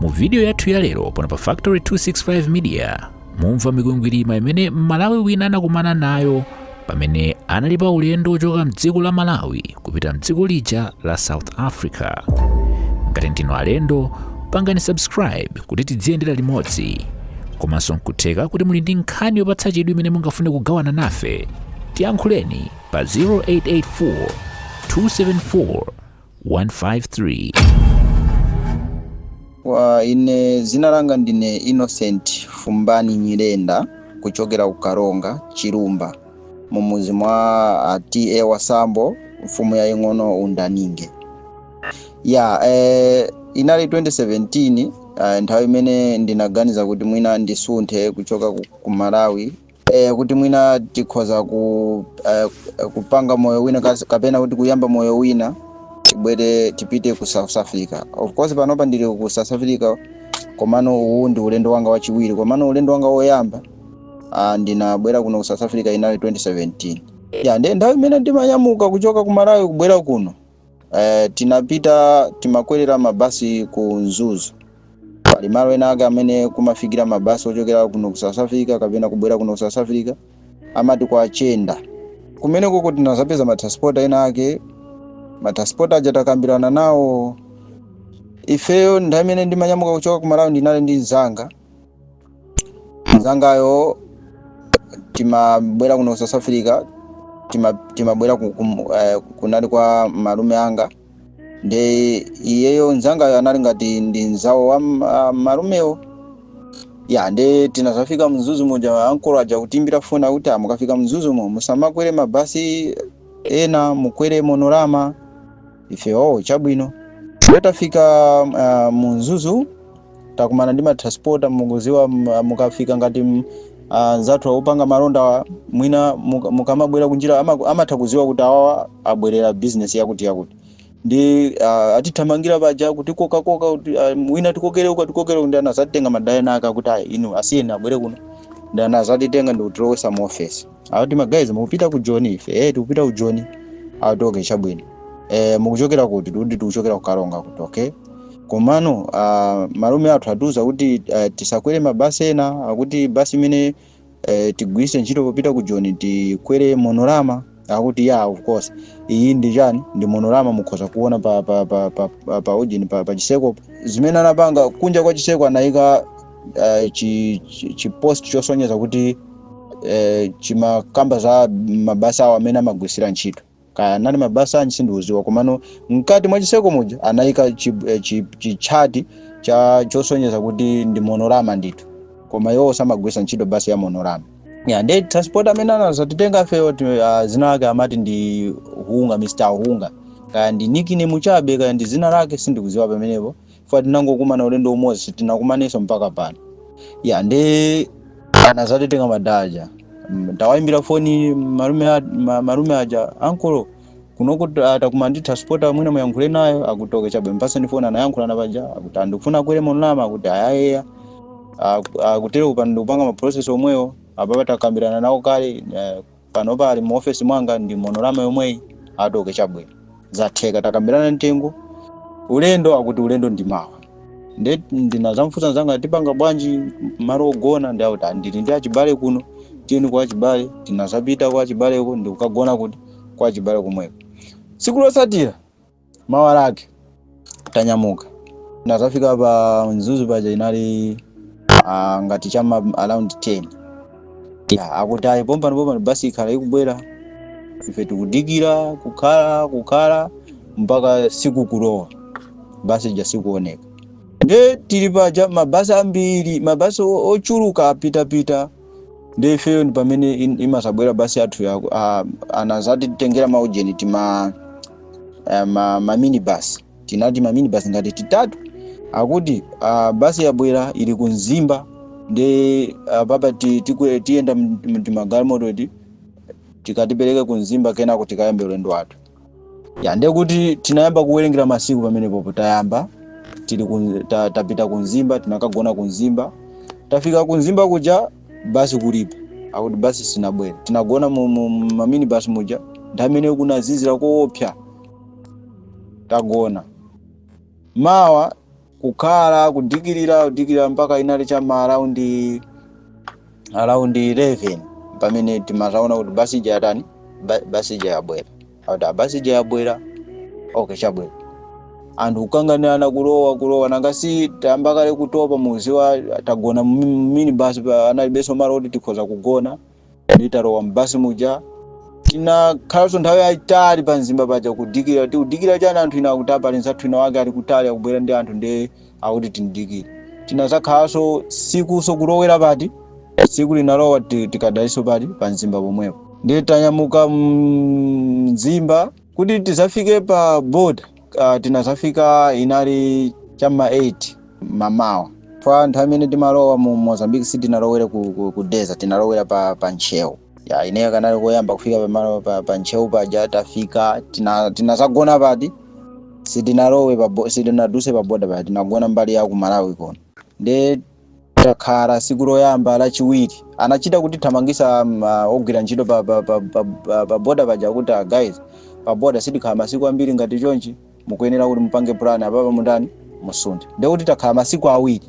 mu vidiyo yathu ya lero pano pa Factory 265 Media mumva mikwingwirima imene mmalawi wina anakumana nayo pamene anali pa ulendo wochoka mdziko la malawi kupita mdziko lija la South Africa ngati ndinu alendo pangani subscribe kuti tidziyendera limodzi komanso nkutheka kuti muli ndi nkhani yopatsa chidwi imene mungafune kugawana nafe tiyankhuleni pa 0884 274 153. Ine zina langa ndine Innocent Fumbani Nyirenda kuchokera ku Karonga Chilumba mu muzi mwa a TA Wasambo mfumu yaying'ono Undaninge. Ya eh, inali 2017 eh, nthawi imene ndinaganiza kuti mwina ndisunthe kuchoka ku, ku Malawi eh, kuti mwina tikhoza ku, eh, kupanga moyo wina kas- kapena kuti kuyamba moyo wina tibwere tipite ku south africa of course panopa ndili ku south africa komano uwu ndi ulendo wanga wachiwiri komano ulendo wanga woyamba ah, ndinabwera kuno ku south africa inali 2017 ya ndi nthawi imene ndimanyamuka kuchoka ku malawi kubwera kuno Eh, tinapita timakwerera mabasi ku Mzuzu. Pali malo ena ake amene kumafikira mabasi ochokera kuno ku South Africa kapena kubwera kuno ku South Africa amati kwa Chenda. Kumene koko tinazapeza matransporter ena ake matransporter aja takambirana nawo ifeyo nthawi imene ndimanyamuka kuchoka ku Malawi ndinali ndi mzanga mzangayo timabwera kuno ku south africa tima- timabwera ku- kum- eh, kunali kwa malume anga nde iyeyo mzangayo anali ngati ndi mnzawo wa m- ah, malumewo ya nde tinazafika mzuzu muja ankolo aja kutiyimbira foni akuti "Ah, mukafika mzuzumo musamakwere mabasi ena mukwere Munorurama ife oh chabwino ndiye tafika uh, mu mzuzu takumana ndi matransporter mukuziwa m- mukafika ngati m- ah, anzathu opanga malonda wa- mwina muka- mukamabwera kunjira ama- amatha kuziwa kuti awawa abwerera business yakuti yakuti nde ah, atithamangira paja kuti kokakoka kuti ah, mwina tikokere uku tikokere uku, nde anazatitenga madala ena ake kuti ayi inu asiyeni abwere kuno nde anazatitenga ndi kutilowesa mu ofesi akuti magayizi mukupita ku joni ife eh tikupita ku joni akuti okay chabwino eh mukuchokera kuti tikuti tikuchokera ku karonga akuti okay komano uh, malume athu atiuza kuti uh, tisakwere mabasi ena akuti basi imene uh, tigwiritse ntchito popita ku joni tikwere Munorurama akuti ya of course iyi ndi chani ndi Munorurama mukhoza kuona pa pa pa pa pa, pa, ujini, pa, pa chiseko zimene anapanga kunja kwa chiseko anayika eh, chi- chi- chipost chosonyeza kuti eh, chimakamba za mabasi awo amene amagwiritsira ntchito kaya anali mabasi anji sindiuziwa komano mkati mwa chiseko muja anayika chi- eh, chi- chitchati cha chosonyeza kuti ndi monorama ndithu koma iwo samagwirisa ntchito basi ya monorama ya ndi transport amene anazatitenga ifeyo ti- ah, zina lake amati ndi hunga mr hunga kaya ndi nickname chabe kaya ndi zina lake sindikuziwa pamenepo chifukwa tinangokumana ulendo umodzi sitinakumanenso mpaka pano ya ndi anazatitenga madala aja Mm, tawayimbira foni malume a- ma- malume aja ankolo kunoko takumana ndi transporter mwina muyankhule nayo akuti okay chabwe mpasani foni anayankhulana paja akuti ah ndikufuna akwere monorama akuti ayayeya akutero kupanda ndikupanga maprocess omweyo apapa takambirana nawo kale eh, Panopa ali mu office mwanga ndi monorama yomweyi ati okay chabwino. Zatheka takambirana mtengo. Ulendo akuti ulendo ndi mawa. Nde ndinazamfunsa nzanga tipanga bwanji malo ogona nde akuti ndili ndi achibale kuno tiyeni kwa achibale tinazapita kwa achibaleko ndikukagona kuti kwa achibale komweko. Tsiku lotsatira mawa lake tanyamuka ndinazafika pa mzuzu paja inali ah, ngati chama around 10 ya akuti ayi pompano pompano basi ikhala ikubwera ife tikudikira kukhala kukhala mpaka siku kulowa basi ija sikuoneka nde tili paja mabasi ambiri mabasi o- ochuluka apitapita nde ifeyo ndi pamene in- isanabwere basi yathu ya ah, anazatitengera maujeni tima eh, ma, ma minibus tinati ma minibus ngati titatu akuti ah, basi yabwera ili ku mzimba nde ah, apapa ti- tikwe- tiyenda mtimagalimoto ti tikatipereke ku mzimba kenako tikayambe ulendo wathu ya ndiye kuti tinayamba kuwerengera masiku pamenepopo tayamba tili ku, ta, tapita ku mzimba tinakagona ku mzimba tafika ku mzimba kuja basi kulibe akuti basi sinabwere tinagona mu- mu- mu mamini basi muja nthawi imeneyo kunazizira koopsa tagona mawa kukhala kudikirira kudikirira mpaka inali cha ma around around 11 pamene timazaona kuti basi ija yatani Ba- basi ija yabwera akuti "Ah, basi ija yabwera okay chabwe anthu kukanganirana kulowa kulowa nanga si tayamba kale kutopa mukuziwa tagona mumini basi analibenso malo kuti tikhoza kugona nde talowa m'basi muja tinakhalanso nthawi yayitali pa mzimba paja kudikira tikudikira chani anthu ina akuti ah pali nzathu wina wake ali kutali akubwera ndi anthu nde akuti timdikire tinazakhalanso sikuso kulowera pati siku linalowa ti- tikadalinso pati pa mzimba pomwepo ndiye tanyamuka mzimba kuti tizafike pa boda uh, tinazafika inali cha m'ma 8 mamawa pa nthawi imene timalowa mu mozambique sitinalowere ku, ku, ku dedza tinalowera pa, pa ntcheu ya ineyo kanali koyamba kufika pamalo pa, pa ntcheu paja tafika tina- tinazagona pati sitinalowe pa bo- sitinaduse pa boda pati tinagona mbali ya ku malawi kono nde Takhala siku loyamba lachiwiri anachita kutithamangisa um, uh, ogwira ntchito pa, pa, pa, pa, pa, pa boda paja kuti uh, guys pa boda sitikhala masiku ambiri ngati chonchi mukuyenera kuti mupange plan apapa mutani musunthe ndiye kuti takhala masiku awiri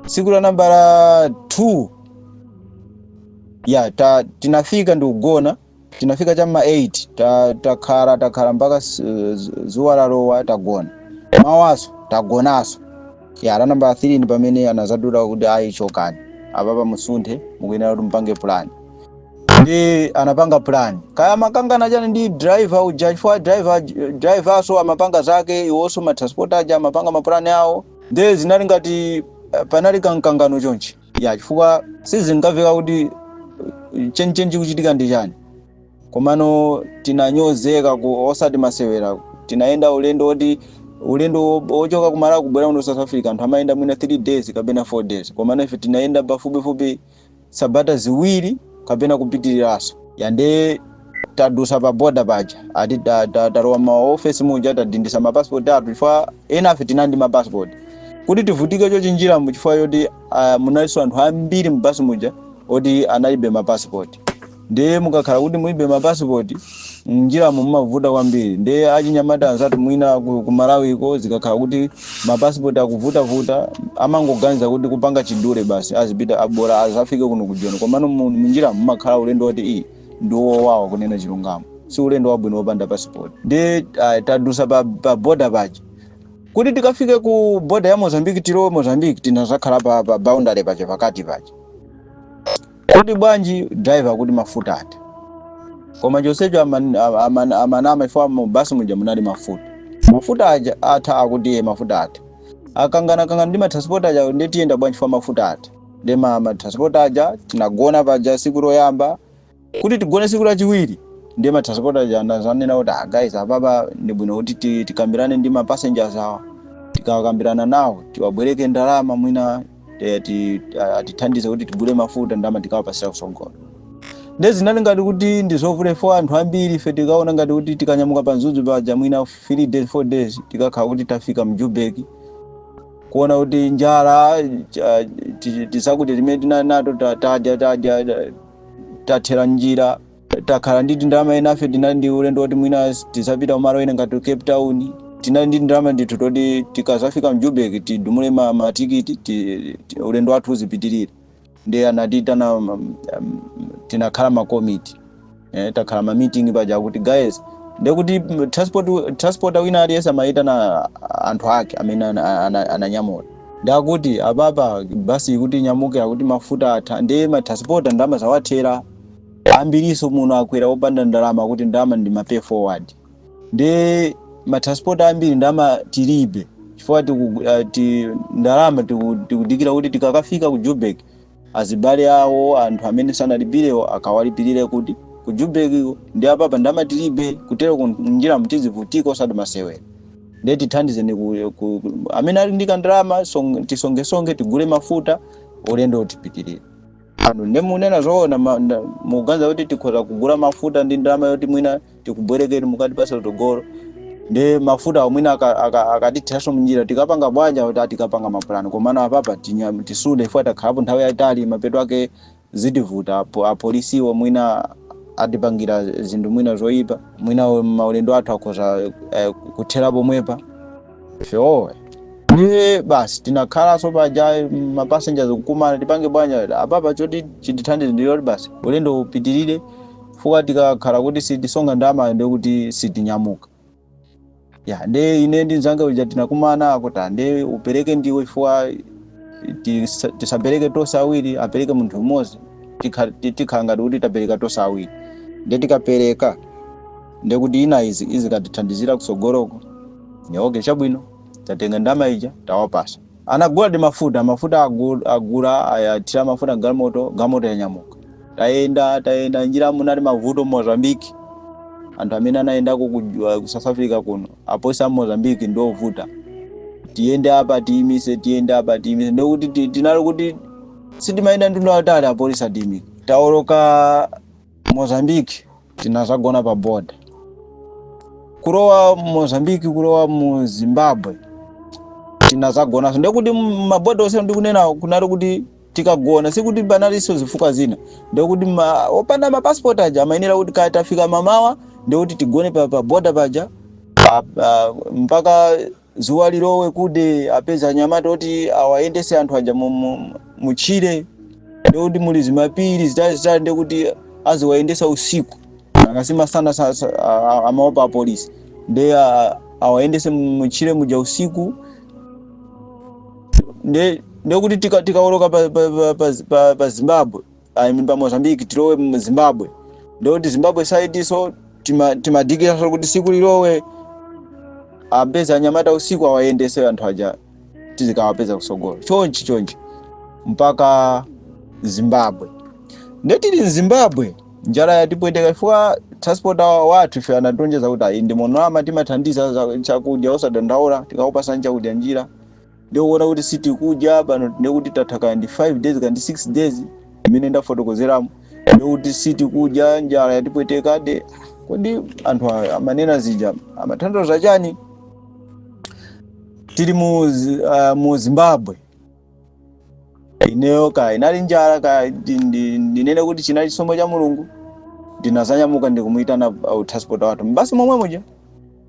siku la nambala 2 ya ta, tinafika ndikugona tinafika cha ma 8 ta- takhala takhala mpaka s- z- zuwa lalowa tagona mawaso tagonaso ya la namba 3 ni pamene anazadula kuti ayi chokani apapa musunthe mukuyenera kuti mupange plan ndi anapanga plan kaya amakangana chani ndi driver uja chifukwa driver driverso amapanga zake iwonso matransport aja amapanga mapulani awo nde zinali ngati eh, panali kamkangano chonchi ya chifukwa sizinkamveka kuti chenicheni chikuchitika ndi chani komano tinanyozeka osati masewera tinayenda ulendo woti ulendo wo- wochoka ku malawi kubwera kuno ku south africa anthu amayenda mwina 3 days kapena 4 days komano ife tinayenda pafupifupi sabata ziwiri kapena kupitiriranso ya nde tadusa pa boda paja ati ta- ta- talowa ma office muja tadindisa ma passport athu chifukwa enafe tinali ndi ma passport kuti tivutike chonchi njiramu chifukwa choti ah, munalinso anthu ambiri mu basi muja oti analibe ma passport ndiye mukakhala kuti mulibe ma passport njiramo mumavuta kwambiri ndiye achinyamata anzathu mwina ku, ku malawiko zikakhala kuti ma passport akuvutavuta amangoganiza kuti kupanga chidule basi azipita bola azafike kuno kujoni komano mu- munjira mumakhala ulendo woti ii ndi wowawa kunena chilungamo si ulendo wabwino wopanda passport ndi uh, tadusa pa, pa boda paja kuti tikafike ku boda ya mozambique tilowe mozambique tinazakhala pa, pa boundary paja pakati paja kodi bwanji driver kuti mafuta atha koma chonsecho aman- a- aman- amanama fo mu basi muja munali mafuta mafuta aja atha akuti iye mafuta atha akanganakangana ndi matransport aja nde tiyenda bwanji fo mafuta atha nde matransport aja tinagona paja siku loyamba kuti tigone siku lachiwiri ndiye matransport aja anazanena kuti ah, guys apapa ndi bwino kuti ti- tikambirane ndi ma passengers awa tikakambirana nawo tiwabwereke ndalama mwina eh, ti- atithandize kuti tigule mafuta ndalama tikawapasira kusogolo nde zinali ngati kuti ndizovuta fo anthu ambiri ife tinkaona ngati kuti tikanyamuka pa mzuzu paja mwina 3 days 4 days tikakhala kuti tafika mjubeki kuona kuti njala cha- ti- tizakudya timene tinali nato ta- tadya tadya ta- tathera mnjira takhala ndi tindalama enafe tinali ndi ulendo woti mwina tizapita kumalo ena ngati cape town tinali ndi tindalama ndithu toti tikazafika mjubeki tidumule ma- matikiti ti- ti- ulendo wathu uzipitirire ndiye anatitana um, um, tinakhala makomiti eh, takhala mamiting paja kuti guys ndekuti mm, transport transporter wina aliyense amayitana anthu ake amene ana- ana- ananyamula ndakuti apapa basi kuti inyamuke akuti mafuta atha ndiye matransporter ndalama zawathera ambiriso muno akwera opanda ndalama kuti ndalama ndi mapay forward ndi matransport ambiri ndama tilibe chifukwa tiku- ah, ti- ndalama tiku- tikudikira kuti tikakafika ku jubek azibale awo anthu amene sanalipirewo akawalipirire kuti ku jubek ndi apapa ndama tilibe kuteroku njiramu tizivutika osati masewera ndiye tithandizeni ku, ku, ku- amene ali ndi kandalama song- tisongesonge tigule mafuta ulendowu tipitirire anu nde munena zoona ma- nda- mukuganiza kuti tikhoza kugula mafuta ndi ndalama yoti mwina tikubwerekeni mukatipasa utogolo nde mafuta omwina akatitheranso mnjira tikapanga bwanji akuti tikapanga mapulani komano apapa tinya- tisude ife takhalapo nthawi yayitali mapeto ake zitivuta apo apolisiwo mwina atipangira zinthu mwina zoyipa mwina maulendo athu akhoza eh, kuthera pomwepa Sure. Ndiye basi tinakhalanso paja ma passengers kukumana tipange bwanji lero. Apapa choti chitithandize ndi choti basi. Ulendo upitirire fuka tikakhala kuti sitisonga ndamayo ndiye kuti sitinyamuka. Ya ndiye ine ndi mzanga uja tinakumana akuti ndiye upereke ndiwe chifukwa tisa- tisapereke tonse awiri apereke munthu mmodzi tikha- ti- tikhala ngati kuti tapereka tonse awiri. Ndiye tikapereka ndiye kuti ina izi izikatithandizira kutsogoloko. Ndiye okay chabwino tatenga ndama ija tawapasa. Anaguladi mafuta, mafuta agu- agula ayathira mafuta galimoto, galimoto yanyamuka. Tayenda tayenda njiramu munali mavuto Mozambique. Anthu amene anayendako ku uh, ku South Africa kuno apolisi a Mozambique ndi ovuta. Tiyende apa atiyimise, tiyende apa atiyimise. Ndiye kuti ti- tinali kuti sitimayenda mtunda wautali apolisi atiyimika. Taoloka Mozambique tinazagona pa boda kulowa mozambiki kulowa mu zimbabwe tinazagonanso ndekuti maboda onse ndikunena kunali kuti timagona sikuti panalinso zifukwa zina ndekuti ma, opanda mapasipoti aja amayenera kuti kaya tafika mamawa ndekuti tigone pa, pa boda paja pa, pa, mpaka Dzuwa lilowe kude apeza anyamata oti awayendese anthu aja mu- mu- mutchire ndikuti muli zimapiri zitalizitali ndikuti aziwayendesa usiku because masana sa- sa- a- a- amaopa apolisi nde a- awayendese mu- mutchire muja usiku nde ndekuti tika- tikawoloka pa, pa, pa, pa, pa, pa zimbabwe I mean, pa Mozambique tilowe mu Zimbabwe ndikuti Zimbabwe side so tima- timadikira kuti siku lilowe apeza anyamata usiku awayendese anthu aja tizikawapeza kusogolo chonchi chonchi mpaka Zimbabwe ndetili mzimbabwe njala yatipweteka chifukwa transporter wathu ife anatilonjeza kuti ayi ndi monolama timathandiza za- chakudya osadandaula tikakupasani chakudya njira ndikuona kuti sitikudya pano ndikuti tatha kaya ndi 5 days kaya ndi 6 days imene ndafotokozeramo ndikuti sitikudya njala yatipweteka nde kodi anthu a- amanena zija amathandiza chani tili mu, Zi- ah, mu zimbabwe ineyo kaya inali njala kaya ndi- ndi- ndinene kuti chinali chisomo cha mulungu ndinazanyamuka ndikumuyitana uh, transporter wathu mbasi momwe muja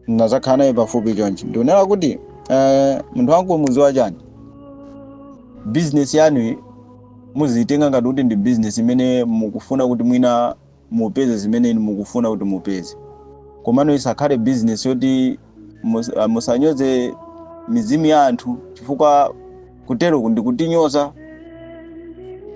ndinazakhala naye pafupi chonchi ndionera kuti eh, munthu wangu muziwa chani bizinesi yanuyi muziyitenga ngati kuti ndi bizinesi imene mukufuna kuti mwina mupeze zimene inu mukufuna kuti mupeze komano isakhale bizinesi yoti mus- ah, musanyoze mizimu ya anthu chifukwa Kuteroku ndi kutinyoza.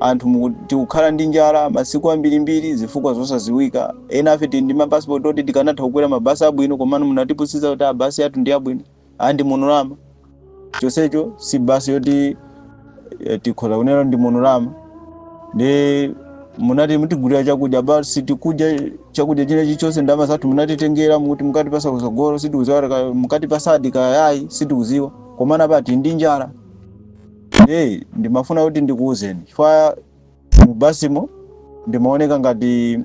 Anthu muku- tikukhala ndi njala masiku ambirimbiri zifukwa zosaziwika. Enafe tili ndi mapasipoti oti tikanatha kukwera mabasi abwino komano munatipusitsa kuti mabasi athu ndi abwino andi monolama. Chonsecho si basi yoti eh, tikhoza kunena ndi monolama. Ndi munati mutigulira chakudya basi tikudya chakudya china chilichonse ndalama zathu munatitengera mukuti mukatipasa kusogolo sitikuziwa mukatipasadi kayayi sitikuziwa. komano apa tili ndi njala hey, ndimafuna kuti ndikuwuzeni chifukwa mu basimo ndimaoneka ngati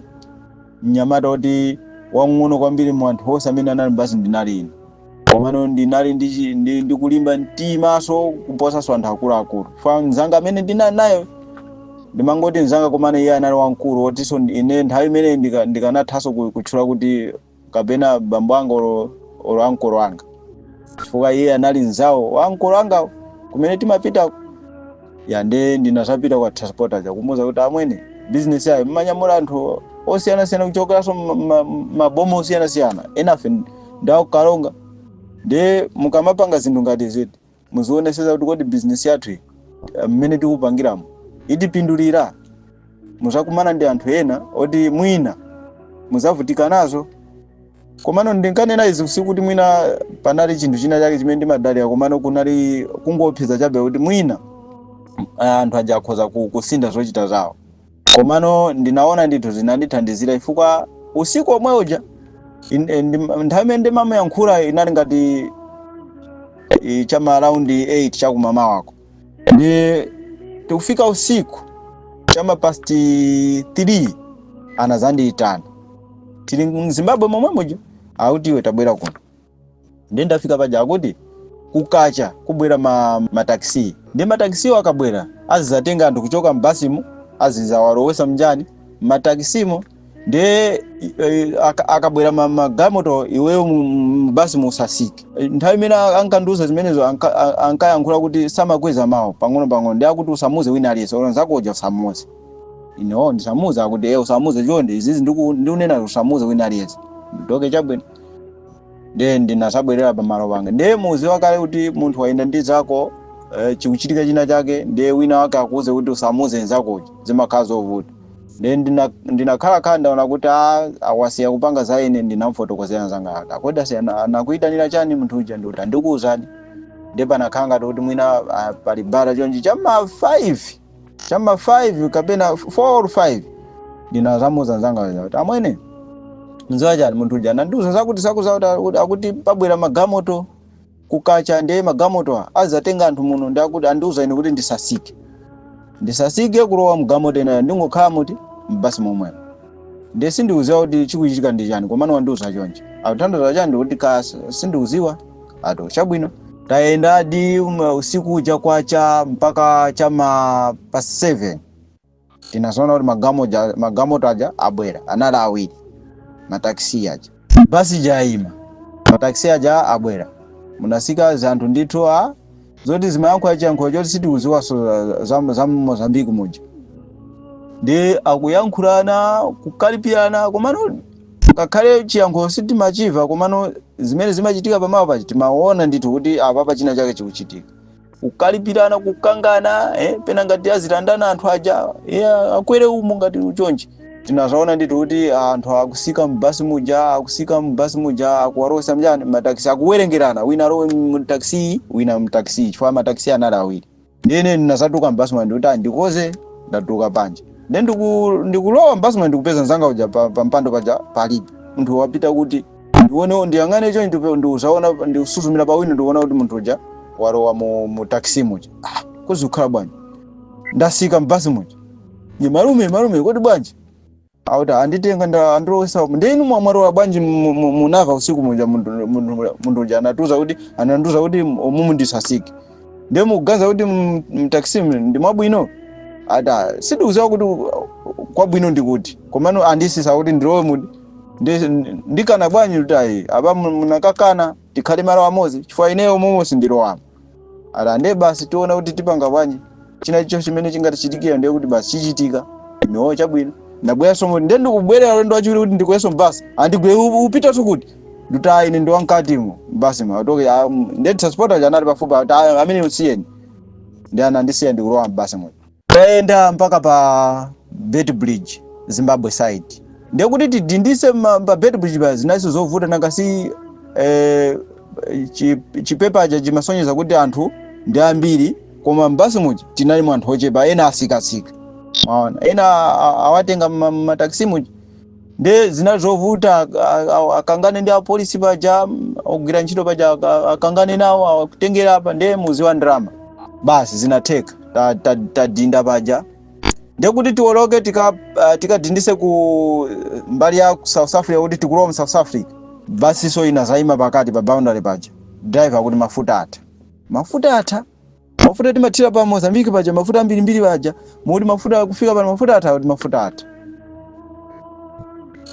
mnyamata kuti wang'ono kwambiri mu anthu onse amene anali mbasi ndinali ine komano ndinali ndi chi- ndi- ndikulimba mtimaso kuposaso anthu akuluakulu chifukwa mzanga amene ndinali nayo ndimangoti mzanga komano iye anali wamkulu otinso ndi- ine nthawi imene ndika- ndikanathanso ku- kutchula kuti kapena bambo anga olo olo ankolo anga chifukwa iye anali nzawo wa ankolo angawo kumene timapitako ya nde ndinazapita kwa transporter uja kumuuza kuti amwene business yanuyo mmanyamula anthu osiyanasiyana kuchokeranso ma- ma- maboma osiyanasiyana enafe nda ku Karonga nde mukamapanga zinthu ngati ziti Muzionetsetsa kuti kodi business yathu iyi mmene tikupangiramo itipindulira. Muzakumana ndi anthu ena oti mwina muzavutika nazo. Komano ndinkanena izi sikuti mwina panali chinthu china chake chimene ndimadalira komano kunali kungoopseza chabe kuti mwina ah, anthu aja akhoza ku- kusintha zochita zawo. komano ndinaona ndithu zinandithandizira ifukwa usiku omwe uja in- eh, ndim- nthawi imene ndimayankhula inali ngati eh, chama around 8 chakumama wako ndi tikufika usiku chama past 3 anazandiyitana tili mZimbabwe momwe muja auti iwe tabwera kuno ndiye ndafika paja akuti kukacha kubwera ma mataxi ndiye mataxisiwo akabwera azizatenga anthu kuchoka m'basimu azizawalowesa mnjani mataxisimo ndiye eh, aka- akabwera ma- magalimoto iweyo mu- mu- m'basi musasike Eh, nthawi imene a- ankandiuza zimenezo anka- a- ankayankhula kuti samakweza mawu pang'onopang'ono ndiye akuti usamuze wina aliyense olo nzakuja usamuze ine ndisamuze akuti e usamuze chonde izizi ndiku- ndikunena usamuze wina aliyense nde okay chabwino ndiye ndinazabwerera pamalo panga ndiye muziwa kale kuti munthu wayenda ndi zako eh, chikuchitika china chake ndiye wina wake akuuze kuti usamuze nzakoyo zimakhala zovuta ndiye ndina- ndinakhala khala ndaona kuti a- awasiya kupanga za ine ndinamfotokozera nzanga akuti kodi asiya na- anakuyitanira chani munthu uja ndikuti ah ndikuuzani ndiye panakhala ngati kuti mwina ah, pali bata chonchi cha ma 5 chama 5 kapena 4 or 5 ndinazamuuza nzanga uja kuti amwene mziwa chani munthu uja anandiuza zakuti sakuza kuti akuti- akuti pabwera magamoto kukacha ndiye magamoto a- azizatenga anthu muno ndi akuti andiuza ine kuti ndisasike ndisasike kulowa mgamoto inayo ndingokhala muti m'basi momwemo ndiye sindikuziwa kuti chikuchitika ndi chani komano wandiuza chonchi akutanthauza chani ndikuti kaya sindikuziwa ato chabwino tayendadi um, usiku uja kwacha mpaka chama past 7 tinazaona kuti magamoja- magamoto aja abwera anali awiri mataxi aja Basi ija ayima, mataxi aja abwera, munasika zanthu ndithu a zoti zimayankhula chiyankhulo choti sitikuziwaso za, za Mozambique muja ndi akuyankhulana kukalipirana komano ngakhale chiyankhulo sitimachiva komano zimene zimachitika pamalo paja timaona ndithu kuti apapa china chake chikuchitika kukalipirana kukangana eh, pena ngati azilandana anthu aja eh, akwere umo ngati uchonchi tinazaona ndithu kuti anthu akusika mbasi muja akusika mbasi muja akuwalowesa mjani mataxi akuwerengerana wina alowe mtaxi wina mtaxi chifukwa mataxi anali awiri nde ine ndinazatuluka mbasi muja ndikuti ah ndikoze ndatuluka panja nde ndiku- ndikulowa mbasi muja ndikupeza nzanga uja pa, pa mpando paja palibe munthu wapita kuti ndione ndiyang'ane chonchi ndikuzaona ndikusuzumira pa window ndikuona kuti munthu uja walowa mu, mu taxi muja ah, kodi zikukhala bwanji ndasika mbasi muja ndi malume malume kodi bwanji akuti anditenga ndi andilowesa ndi inu mwamwalowa bwanji mu- mu- munava usiku muja munthu munthu- munthu uja anatiuza kuti anandiuza kuti umu ndisasike ndiye mukuganiza kuti mu- mu taxi mu- ndi mwabwino ati sindikuziwa kuti kwabwino ndikuti komano andisisa kuti ndilowe mu Ndi- ndikana bwanji kuti ayi apa mu- munakakana tikhale malo amodzi chifukwa ineyo momo sindilowamo ati nde basi tiona kuti tipanga bwanji china chicho chimene chingatichitikira ndiye kuti basi chichitika ineyo chabwino ndabweranso mu- nde ndikubwerera ulendo wachiwiri kuti ndikwerenso mbasi andigwe ukupitanso kuti ndikuti ayi ine ndiwa mkatimo mbasi ma atoke ah, mm, nde transporter anali pafupi ati "Ah, ameneyu musiyeni ndi anandisiya ndikulowa mbasimo Tayenda mpaka pa Beit Bridge, Zimbabwe side. Ndiye kuti tidindise ma- pa Beit Bridge pa zinalinso zovuta nanga si eh, chi- chipepa aja chimasonyeza kuti anthu ndi ambiri koma m'basi muja tinali mu anthu ochepa ena atsikatsika. Mwaona. Ena a- awatenga ma- mataxi muja nde zinali zovuta ak- a- a- akangane ndi apolisi paja mm, ogwira ntchito paja ak- a- akangane nawo akutengera apa nde muziwa ndalama basi zinatheka Ta- ta- tadinda paja ndekuti tiwoloke tika uh, tikadindise ku eh, mbali ya ku south africa kuti tikulowa mu south africa basiso inazaima pakati pa boundary paja driver akuti mafuta atha mafuta atha mafuta timathira pa mozambiki paja mafuta ambirimbiri paja mukuti mafuta kufika pano mafuta atha akuti mafuta atha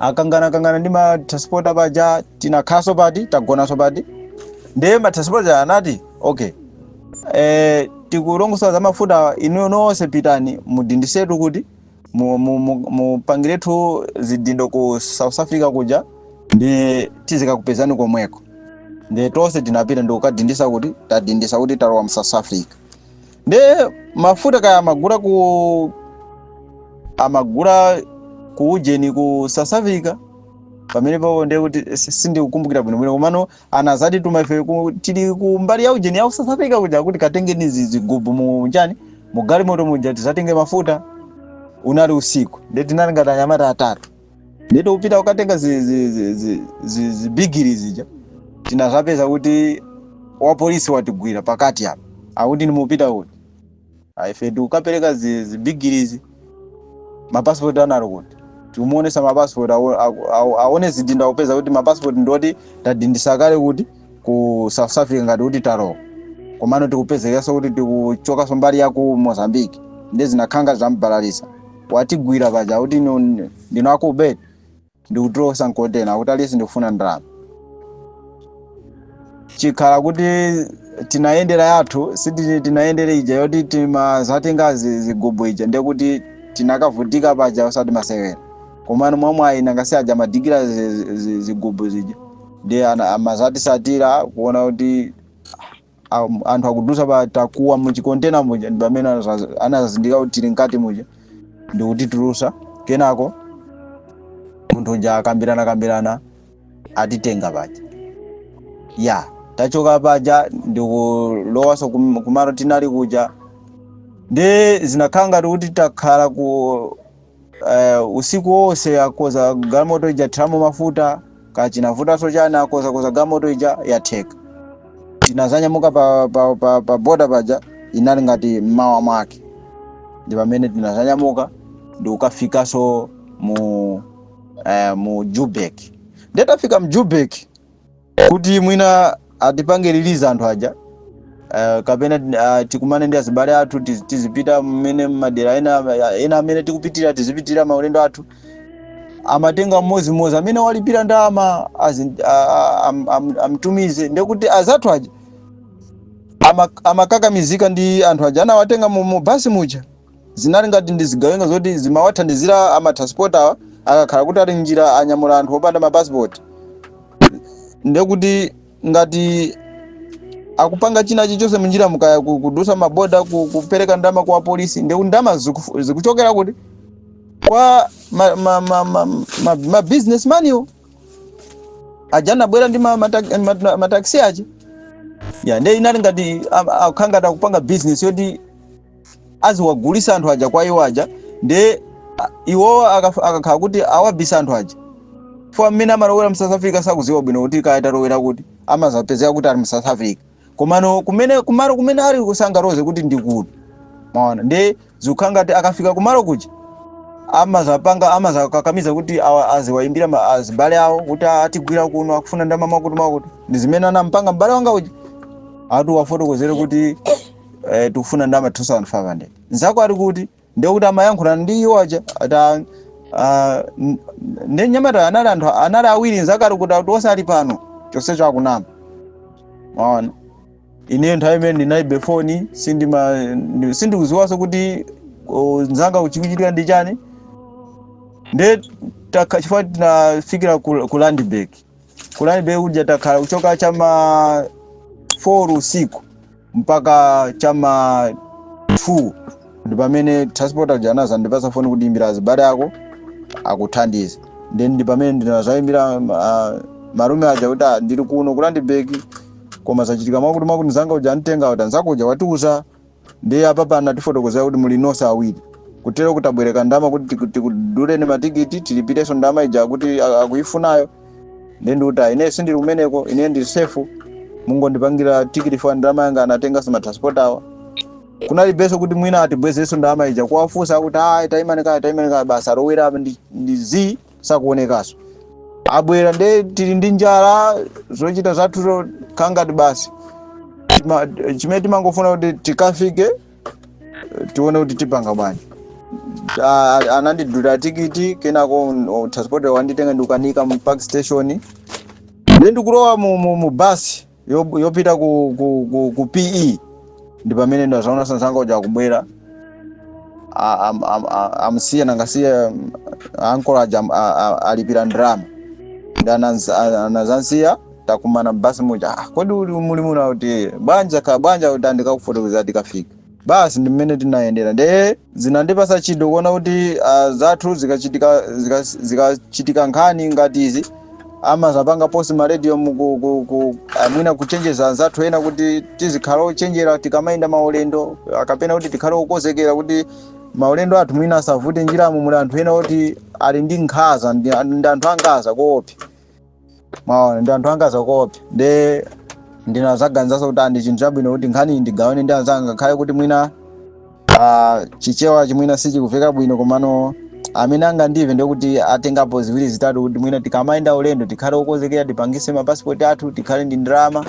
akanganakangana ndi matransporta paja tinakhaso pati tagonaso pati ndiye matransporta anati okay eh, tikulongosola za mafuta inuyo nonse pitani mudindisetu kuti mu- mu- mu- mupangiretu zidindo ku south africa kuja ndi tizikakupezani komweko nde tonse tinapita ndikukadindisa kuti tadindisa kuti talowa mu south africa nde mafuta kaya amagula ku amagula ku ujeni ku south africa pamene papo ndiye kuti si- sindikukumbukira bwinobwino komano anazatituma ife ku- tili ku mbali ya ujeni ya ku south africa kuja akuti katengeni zi- zigubu mu ujeni mu galimoto muja tizatenge mafuta unali usiku nde tinali ngati anyamata atatu nde tikupita kukatenga zi- zi- zi- zi- zi- zibigiri zija tinazapeza kuti wapolisi watigwira pakati apa akuti nde mukupita kuti Ah, ife tikukapereka zi- zibigirizi mapasipoti anali kuti tikumuonesa mapasipoti awo- awo- awo- aone zidindo akupeza kuti mapasipoti ndioti tadindisa kale kuti ku south africa ngati kuti talowa komano tikupezekanso kuti tikuchokanso mbali ya ku mozambique nde zinakangazambalalisa watigwira paja akuti ino- ndino akubeti ndikutulutsa mkontena akuti aliyense tikufuna ndalama chikhala kuti tinayendera yathu siti tinayendera ija yoti timazatenga zi- zigubu ija ndekuti tinakavutika paja osati masewera komano mwamwayi nanga si aja amadikira zi- zi- zigubu zija ndi ana- amazatisatira kuona kuti am- anthu akudusa patakuwa muchikontena muja ndi pamene anazaz- anazazindikira kuti tili mkati muja ndikutitulusa kenako munthu uja akambirana kambirana atitenga paja ya tachoka paja ndikulowaso kum- kumalo tinali kuja ndi zinakhala ngati kuti takhala ku uh, usiku wonse akoza galimoto ija athiramo mafuta kachinavutanso chani akoza koza galimoto ija yatheka tinazanyamuka pa, pa, pa, pa boda paja inali ngati mmawa mwake ndi pamene tinazanyamuka ndi kukafikanso mu eh, mu joburg nde tafika mu joburg kuti mwina atipange release anthu aja uh, kapena uh, tikumane ndi azibale athu tiz- tizipita mmene madera ena ena amene tikupitira tizipitira maulendo athu amatenga mmodzi mmodzi amene walipira ndalama azi- a- a- am- am- amtumize ndekuti azathu aja ama- amakakamizika ndi anthu aja anawatenga mu mu basi muja zinali ngati ndi zigawenga zoti zimawathandizira amatransport awa akakhala kuti ali m'njira anyamula anthu opanda mapasipoti ndekuti ngati akupanga china chichonse munjira mu kaya ku- kudusa maboda ku- kupereka ndama kwa polisi ndekuti ndama zikufu- zikuchokera kuti kwa ma, ma, ma, ma, ma, ma businessman iwo aja anabwera ndi ma- mata- ma- mataxi aja ya nde inali ngati am- akukhala ngati akupanga business yoti aziwagulise anthu aja kwa iwo aja nde a- iwowo akaf- akakhala kuti awabisa anthu aja fo mmene amalowera mu south africa sakuziwa bwino kuti kaya talowera kuti amazapezeka kuti ali mu south africa komano kumene kumalo kumene ali kusangaloze kuti ndi kuti mwaona nde zikukhala ngati akafika kumalo kuja amazapanga amazakakamiza kuti awa- aziwayimbira ma- azibale awo kuti atigwira kuno akufuna ndalama mwakuti mwakuti ndi zimene anampanga mbale wanga uja ati uwafotokozere kuti eh, tikufuna ndalama 2500 nzako ali kuti ndiye kuti amayankhulana ndi iwo aja ati ah, n- nde anyamata anali anthu anali awiri nzako ali kuti ati onse ali pano chonsecho akunama mwaona ine nthawi imeneyo ndinalibe foni sindima ndi- sindikuziwanso kuti oh, nzanga uku chikuchitika ndi chani nde taka- chifukwa tinafikira ku, ku landbank Ku Landberg kuja takhala kuchoka chama 4 usiku mpaka chama 2 ndi pamene transport aja anazandipasa foni kuti imbira azibale ako akuthandize ndi pamene ndinazayimbira uh, malume aja kuti "Ah, ndili kuno ku Landberg koma zachitika mwakuti mwakuti mzanga uja antenga kuti nzako uja watiuza Ndiye apapa anatifotokozera kuti muli nonse awiri. Kutero kutabwereka ndalama kuti tiku- tikuduleni matikiti tilipirenso ndalama ija akuti a- akuifunayo. Ndiye ndikuti ayi ine sindili kumeneko ine ndili safe mungondipangira tikiti for ndalama yanga anatenganso ma transport awa. Kulibenso kuti mwina atibwezerenso ndalama ija kuwafunsa akuti ayi tayimani kaye tayimani kaye basi alowera apa ndi, ndi zii sakuonekaso abwera nde tili ndi njala zochita zathu zo- kangati basi Tima- chimene timangofuna kuti tikafike eh, tione kuti tipanga bwanji Ah, anandidulira tikiti kenako oh, transport wanditenga ndikukanika mu park station nde ndikulowa mu, mu, mu basi Yob- yopita ku, ku, ku, ku pe ndi pamene ndazaonaso nzanga uja akubwera A- am- am- a- amsiya nangasiya mm, ankolo aja am- a- a- alipira ndrama ndi ananz- a- anazansiya takumana mbasi muja "Ah, kodi uli muli muno akuti bwanji ka bwanji akuti a ndikakufotokozera tikafika basi ndi mmene tinayendera nde zinandipasa chidwi kuona kuti ah, zathu zikachitika zika- zikachitika nkhani ngati izi amazapanga post maradio muku- ku- ku- ah, mwina kuchenjeza anzathu ena kuti tizikhale ochenjera tikamayenda maulendo ah, kapena kuti tikhale okozekera kuti maulendo athu mwina asavute njiramo muli anthu ena oti ali ndi nkhaza ndi ndi anthu angazakuopsa mwaona ndi anthu angazakuopsa nde ndinazaganizanso kuti a ndi chinthu chabwino kuti nkhani ndigawane ndi anzanga ngakhale kuti mwina ah, chichewachi mwina sichikuveka bwino komano amene angandive ndikuti atengapo ziwiri zitatu kuti mwina tikamayenda ulendo tikhale okonzekera tipangise mapasipoti athu tikhale ndi ndalama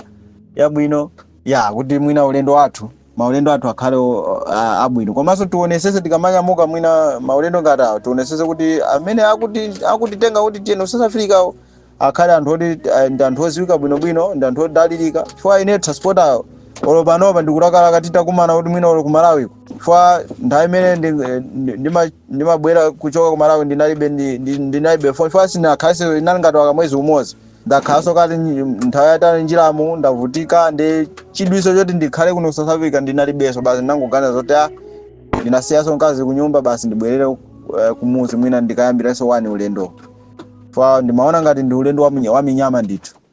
yabwino ya kuti mwina ulendo wathu maulendo athu akhale o- a- abwino komanso tionesese tikamanyamuka mwina maulendo ngati awo tionesese kuti amene akuti akutitenga kuti tiyeni ku south africawo akhale anthu oti eh, ndi anthu oziwika bwinobwino ndi anthu odalirika chifukwa ine transport awo olo panopa ndikulakalaka titakumana kuti mwina olo ku malawiko chifukwa nthawi imene ndi- ndi- ndima- ndimabwera kuchoka ku malawi ndinalibe ndi- ndi- ndinalibe foni chifukwa sinakhaleso inali ngati wa kamwezi umodzi ndakhalanso kati nyi- nthawi yatali njiramo ndavutika ndi chidwiso choti ndikhale kuno ku south africa ndinalibenso basi ndinangoganiza zoti a ndinasiyanso mkazi kunyumba basi ndibwerere eh, kumuzi mwina ndikayambiranso wani ulendo fa ndimaona ngati ndi ulendo wa minya- wa minyama ndithu